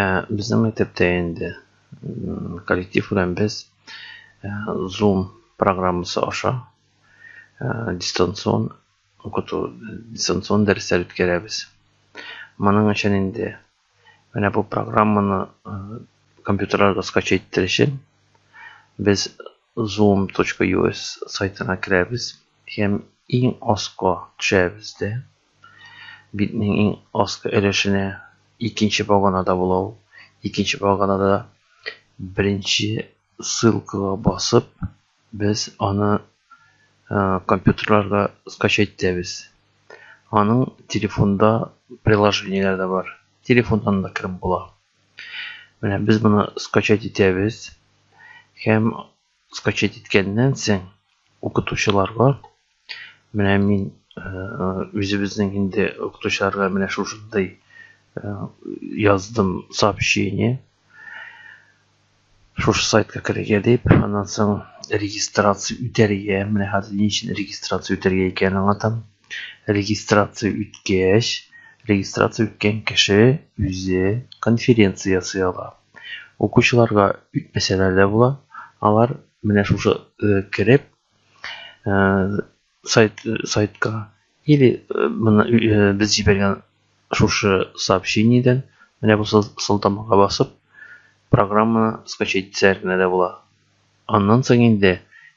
Ә безнең мәктәптә инде коллектив белән без Zoom программасы аша дистанцион укыту, дистанцион дәресләр үткәрәбез. Моның өчен инде менә бу программаны компьютерларга скачать итер өчен без zoom.us сайтына керәбез һәм иң аска төшәбез дә. Битнең иң аскы өлешенә икенче баганада була ул. Икенче баганада беренче ссылкага басып, без аны компьютерларга скачать итәбез. Аның телефонда приложениеләре дә бар. Телефоннан да кереп була. Менә без моны скачать итәбез һәм скачать иткәннән соң укытучыларга менә мин үзебезнең инде укытучыларга менә шушындай яздым сообщение шушы сайтка керергә дип аннан соң регистрация үтәргә менә хәзер ни өчен регистрация үтәргә икәнен аңлатам регистрация үткәч регистрация үткән кеше үзе конференция ясый ала Укучыларга үтмәсәләр дә була. Алар менә шушы э, кереп э, сайт э, сайтка или моны без җибәргән шушы сообщениедән менә бу сылтамага басып программаны скачать итсәләр генә дә була. Аннан соң инде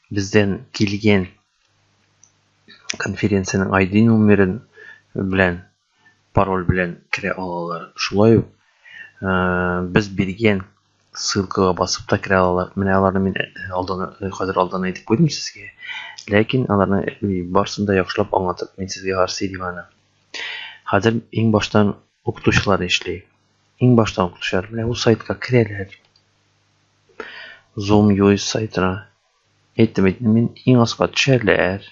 бездән килгән конференциянең ID номерын белән пароль белән керә алалар. Шулай ук без биргән ссылкага басып та керә алалар. Менә аларны мин алдан хәзер алдан әйтеп куйдым сезгә. Ләкин аларны барсын да яхшылап аңлатып мин сезгә гарси дим аны. Хәзер иң баштан укытучылар эшли. Иң баштан укытучылар менә бу сайтка керәләр. Zoom UI сайтына Әйттем бит мин, иң аска төшәләр.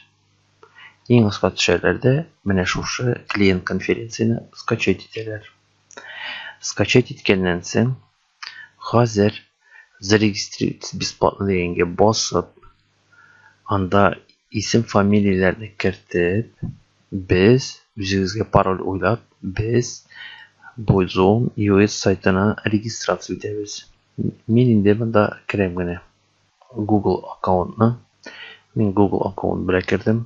Иң аска төшәләр дә менә шушы клиент конференцияне скачать итәләр. Скачать иткәннән соң хәзер зарегистрировать бесплатно дигәнгә басып, анда исем фамилияләрне кертеп, без үзегезгә пароль уйлап, без бу Zoom US сайтына регистрация итәбез. Мин инде монда керәм генә. Google аккаунтны. Мин Google аккаунт белән кердем.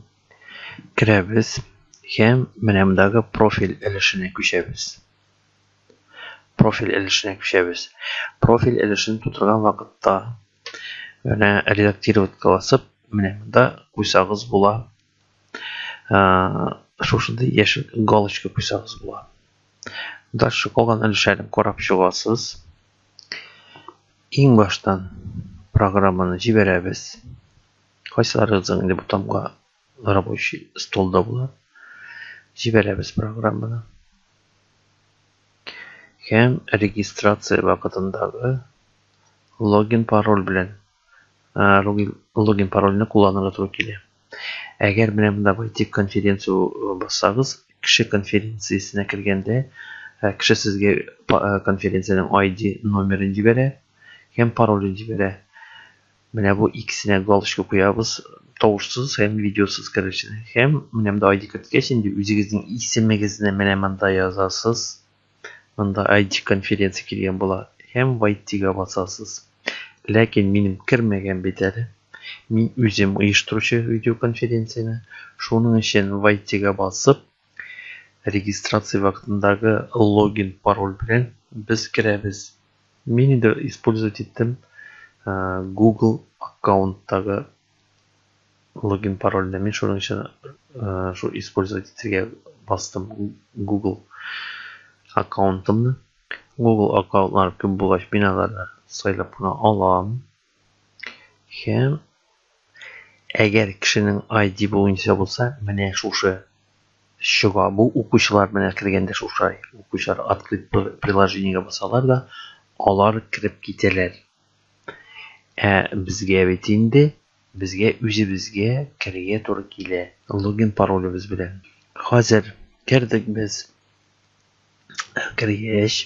Керәбез һәм менә мондагы профиль өлешенә күчәбез. Профиль өлешенә күчәбез. Профиль өлешен тутырган вакытта менә редактировать кыласып, менә монда куйсагыз була. шушындай яшел галочка куйсагыз була дальше калган өлешләрен карап чыгасыз иң баштан программаны җибәрәбез кайсыларыгызның инде бутамга рабочий столда була җибәрәбез программаны һәм регистрация вакытындагы логин пароль белән логин, логин парольне кулланырга туры килә. Әгәр менә монда войти конференцию бассагыз, кеше конференциясенә кергәндә, кеше сезгә конференциянең ID номерын җибәрә һәм паролен җибәрә. Менә бу икесенә галочка куябыз, тавышсыз һәм видеосыз керешне. Һәм менә монда ID керткәч инде үзегезнең исемегезне менә монда язасыз. Монда IT конференция килгән була һәм вайтига басасыз. Ләкин минем кермәгән бит әле. Мин үзем оештыручы видеоконференцияне. Шуның өчен вайтига басып, регистрация вакытындагы логин пароль белән без керәбез. Мин инде использовать иттем Google аккаунттагы Логин парольне мин шуның өчен шул использовать итергә бастым Google аккаунтымны. Google аккаунтлар күп булгач, мин аларны сайлап кына алам. Һәм әгәр кешенең ID буенча булса, менә шушы чыга. Бу укучылар менә кергәндә шушай. Укучылар открыть приложениегә басалар да, алар кереп китәләр. Ә безгә бит инде, безгә үзебезгә керергә туры килә, логин паролебез белән. Хәзер кердек без. Кергәч,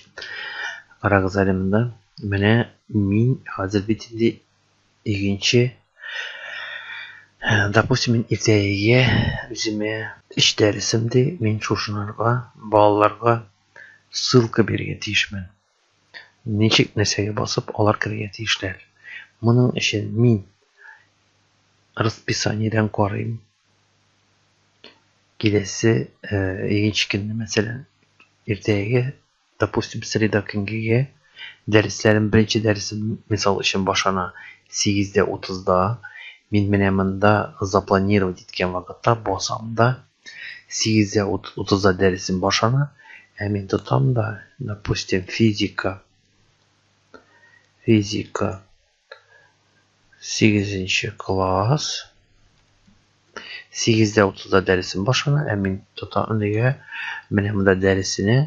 карагыз әле монда. Менә мин хәзер бит инде икенче Допустим, мин иртәгәгә үземә эш дәресем ди, мин шушынырга, балаларга ссылка бирергә тиешмен. Ничек нәрсәгә басып алар керергә тиешләр? Моның өчен мин расписаниедән карыйм. Киләсе икенче э, көнне, мәсәлән, иртәгеге, допустим, среда көнгеге дәресләрем, беренче дәресем, мисал өчен, башана 8:30-да. Мин менә монда запланировать иткән вакытта басам да Сигездә утызда дәресем башлана, ә мин тотам да, допустим, физика. Физика. Сигезенче класс. Сигездә утызда дәресем башлана, ә мин тотам нигә? Менә монда дәресенә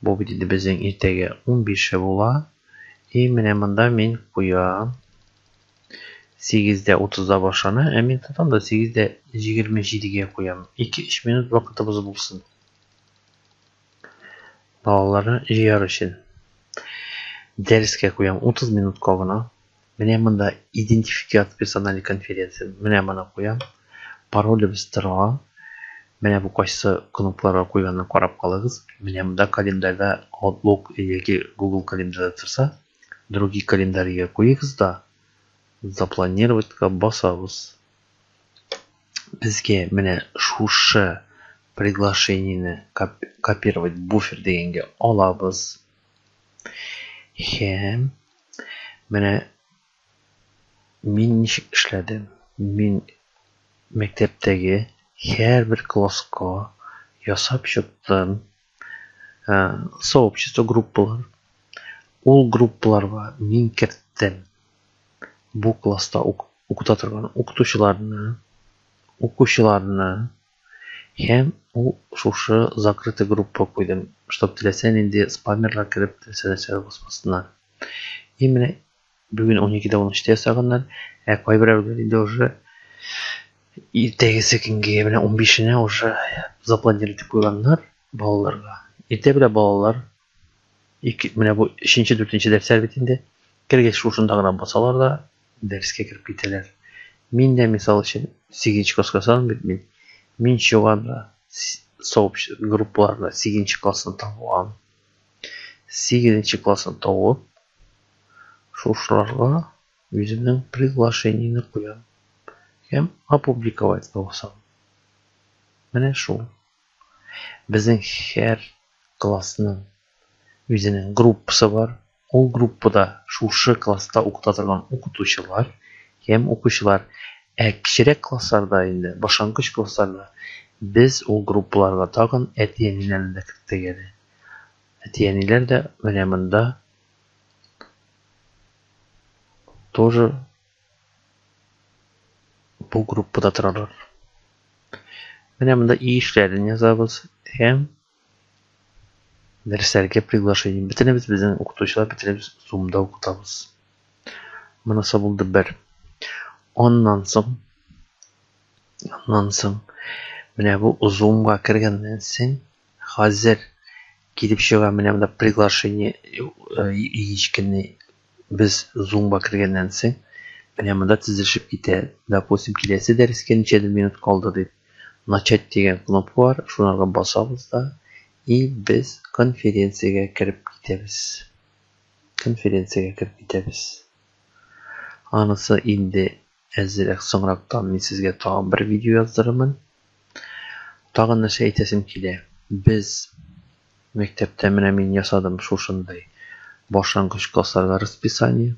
Бу бит инде безнең иртәгә унбише була. И, менә монда мин куям. Сигездә утызда башлана, ә мин тотам да сигездә җигерме җидегә куям. Ике-өч минут вакытыбыз булсын. Балаларны җыяр өчен. Дәрескә куям утыз минутка гына. Менә монда идентификат персонале конференция. Менә моны куям. Паролебез тора. Менә бу кайсы кнопкаларга куйганын карап калыгыз. Менә монда календарьда Outlook яки Google календарьда торса, Другие календарьга куегыз да, Запланировать-ка басабыз. Безгә менә шушы приглашениене копировать буфер дигәнгә алабыз. Һәм менә мин ничек эшләдем. Мин мәктәптәге һәрбер класска ясап чыктым сообщество группалар. Ул группаларга мин керттем бу класста укыта торган укытучыларны, укучыларны, Һәм ул шушы закрытый группа куйдым, чтоб теләсә нинди спамерлар кереп теләсә нәрсәгә басмасыннар. И менә бүген уникедә унөчтә ясаганнар, ә кайберәүләр инде уже иртәгесе көнгә менә унбишенә уже запланировать итеп куйганнар балаларга. Иртә белә балалар Ике, менә бу өченче, дүртенче дәфтәр бит инде. Кергәч шушында гына басалар да дәрескә кереп китәләр. Мин дә мисал өчен сигенче класска сан бит мин. Мин чуганда сообщество группаларда сигенче классны табуам. Сигенче классны табып шушыларга үземнең приглашениене куям. Һәм опубликовать та басам. Менә шул. Безнең һәр классның үзенең группасы бар. Ул группада шушы класста укыта торган укытучылар һәм укучылар. Ә кечерәк классларда инде, башлангыч классларда без ул группаларга тагын әти-әниләрне дә керттек әле. Әти-әниләр дә менә монда тоже бу группада торалар. Менә монда и эшләрен язабыз һәм дәресләргә приглашение. Бөтенебез безнең укытучылар бөтенебез Zoom-да укытабыз. Монысы булды бер. Аннан соң аннан соң менә бу Zoom-га кергәннән соң хәзер килеп чыга менә монда приглашение ечкенный без зумба кергәннән соң, менә монда тезелешеп китә, допустим, киләсе дәрескә ничәдер минут калды дип, начать дигән кнопка бар, шунарга басабыз да, и без конференциягә кереп китәбез. Конференциягә кереп китәбез. Анысы инде Әзрәк соңрактан мин сезгә тагын бер видео яздырырмын. Тагын нәрсә әйтәсем килә. Без мәктәптә менә мин ясадым шушындый башлангыч классларга расписание.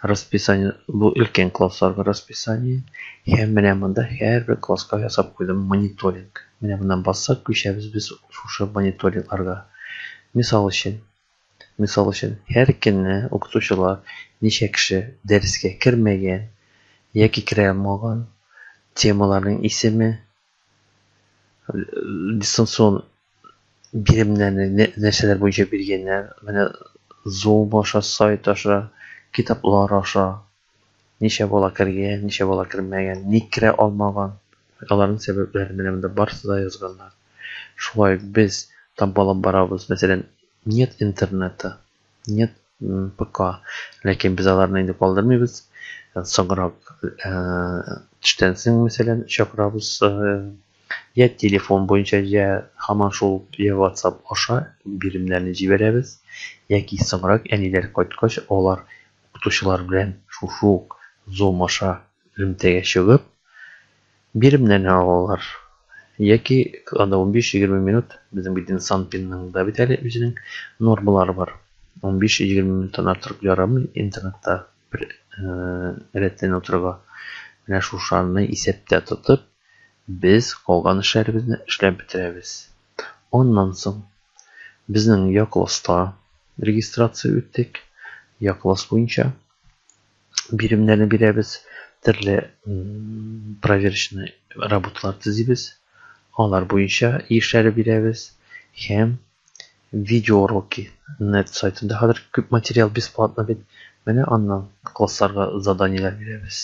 Расписание бу өлкән классларга расписание. Һәм менә монда һәрбер класска ясап куйдым мониторинг. Менә моннан бассак, күчәбез без шушы мониторингларга. Мисал өчен, Мисал өчен, һәр көнне укытучылар ничә кеше дәрескә кермәгән яки керә алмаган, темаларның исеме, дистанцион биремнәрне нәрсәләр буенча биргәннәр, менә Zoom аша, сайт аша, китаплар аша. Ничә бала кергән, ничә бала кермәгән, ник керә алмаган, аларның сәбәпләрен менә монда барысы да язганнар. Шулай ук без тампалап барабыз, мәсәлән, нет интернета, нет ПК, ләкин без аларны инде калдырмыйбыз. Соңрак төштән соң, мәсәлән, чакырабыз, я телефон буенча, я һаман шул я WhatsApp аша биремнәрне җибәрәбез, яки соңрак әниләр кайткач, алар Укытучылар белән шушы ук Zoom аша элемтәгә чыгып, биремнәрне алалар. Яки анда унбиш-егерме минут, безнең бит инде Санпинның да бит әле үзенең нормалары бар. Унбиш-егерме минуттан артык ярамый интернетта бер рәттән утырырга. Менә шушаны исәптә тотып, Без калган эшләребезне эшләп бетерәбез. Аннан соң, безнең Якласста регистрация үттек. Якласс буенча биремнәрне бирәбез. Төрле проверочный работалар төзибез. Алар буенча эшләре бирәбез. Һәм видеоуроки. Нет сайтында хәзер күп материал бесплатно бит. Менә аннан классларга заданиеләр бирәбез.